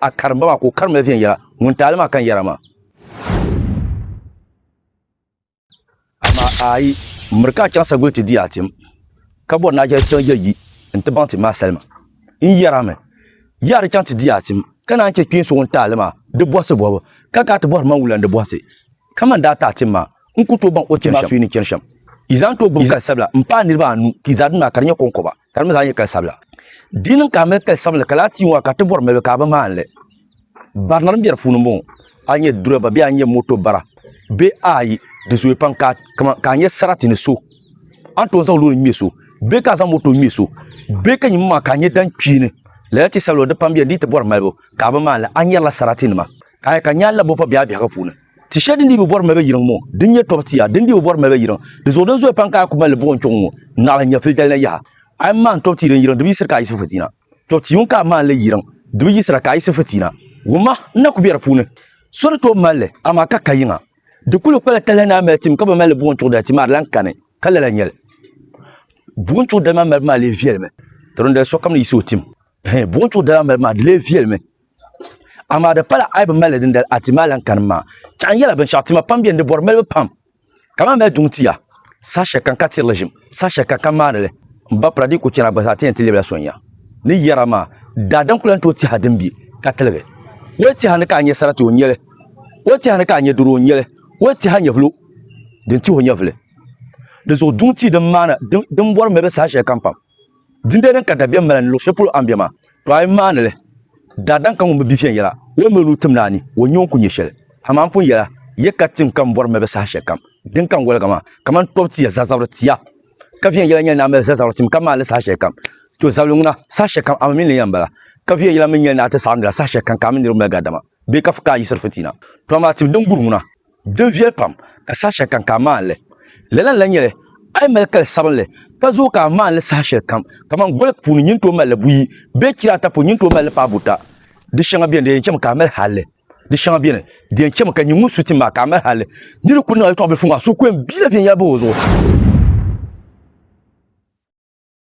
a karimba maa ka o karimla viɛnyɛla ŋun taali maa kan yɛra maa. Amaa a yi miri ka a chaŋ sagbuɣili ti di a tim, ka bɔri ni a chɛli chaŋ ya yi ni ti baŋ tim maa salima, n yɛrimi, yi a di chaŋ ti di a tim, ka naan chɛ kpeen so ŋun taali maa di bɔhisi bɔbu, ka gaa ti bɔhiri man wula n di bɔhisi? Kaman daa ti a tim maa, n ku tooi baŋ o tim maa suyi ni chani shɛm. Yi zaa ni tooi gbibi kali sabila m-paai niriba anu ka yi zaa di maa ka di nyɛ kɔŋkɔba. ka di mi zaa nyɛ kali sabila di niŋ ka a mali kali sabinli ka laa ti yuŋ a ka ti bɔri malibu ka a bi maanili barina din bɛ di puuni bɔŋɔ a nyɛ dirɛba bee a nyɛ moto bara bee ayi di zooya pam ka a nyɛ sarati ni so a ni tooi zaŋ loori ŋmɛ so bee ka a zaŋ moto ŋmɛ so bee ka nyimi maa ka a nyɛ dan kpeeni lala ti sabila di pam bɛ ni ti bɔri malibu ka a bi maanili a nyɛrila sarati nima ka a yɛ ka nyaali la bɔ pa biɛha biɛhagu puuni Ti shɛli din dii bi bɔri malibu yiŋ ŋɔ din nyɛ tɔbu tia din dii bi bɔri malibu yiŋ di zuɣu din zooi pam ka a kuli mali buɣi n kpɛŋɔ ŋɔ naɣila n-nyɛ filidali na yaha. A yɛn maani tɔbu tia din yiŋ di bi yiɣisiri ka a yiɣisi fitiina. Tɔbu tia ŋun ka a maanili yiŋ di bi yiɣisira ka a yiɣisi fitiina. Wumma n na ku be di puuni. So ni tooi mali li, amaa ka ka yiŋa. Di kuli kpala talahi ni a mali tim ka bi mali li buɣi n-chuɣi dali ti maa di lan kani ka lala nyɛ li. Buɣi n-chuɣi dali maa malibu maa lee viɛlimi. Ti dindali sokam ni yiɣisi o tim. Hɛɛ, buɣi n-chuɣi dali maa malibu maa di lee viɛlimi. amaa di pala a yi bi mali dindali a ti maa lan kanim maa chaɣa n yɛla binshaɣu tima pam biɛni di bɔri malibu pam kamani mali duŋ tia saha shɛli kam ka tirili ʒim saha shɛli kam ka maanili n ba pira di yi ku chɛna gba zaa ti yɛn ti lɛbila sonya ni yɛra maa daadam ku lan tooi tiha din bɛ ka tiligi woli tiha ni ka a nyɛ sarati o nyɛli woli tiha ni ka a nyɛ doro o nyɛli woli tiha nyɛvilo din tihi o nyɛvili di zuɣu duŋ tia din maana din bɔri malibu saha shɛli kam pam Dindee din ka dabiɛm mali ni luɣ shɛli polo a ni be maa, tɔ a yi maani li, daadam ka ŋun bi bi viɛnyɛla, o yɛn mali o nuu tim ni a ni o nya o ni ku nya shɛli. Amaa m pun yɛla ya ka tim ka m bɔri malibu saha shɛlikam din ka n waliga maa, kaman tɔbu ti ya zazabiri tia. Ka viɛnyɛla nyɛli ni a mali zazabiri tim ka maani li saha shɛlikam, tɔ zabili ŋuna, saha shɛlikam a mi mini li yɛn bala. Ka viɛnyɛla mi nyɛli ni a ti saɣindi la saha shɛlikam ka a mini niriba mali gari dama bee ka fi ka a yiɣisiri fitina. Tɔ amaa tim din guri ŋuna, din viɛli pam ka saha shɛli kam ka a maandi li lala n lahi nyɛli a yi mali kali sabinli ka zooi ka a maandi li saha shɛli kam kamani goli puuni nyin tooi malili buyi bee chira ata puuni nyin tooi malili paai buta di shɛŋa biɛni di yɛn chɛmi ka a mali halli di shɛŋa biɛni di yɛn chɛmi ka nyin ŋun su ti maa ka a mali halli ni di kuli niŋ yɛltɔɣa bilifu ŋɔ a suhu ku yɛn biɛla viɛnyɛla bahi o zuɣu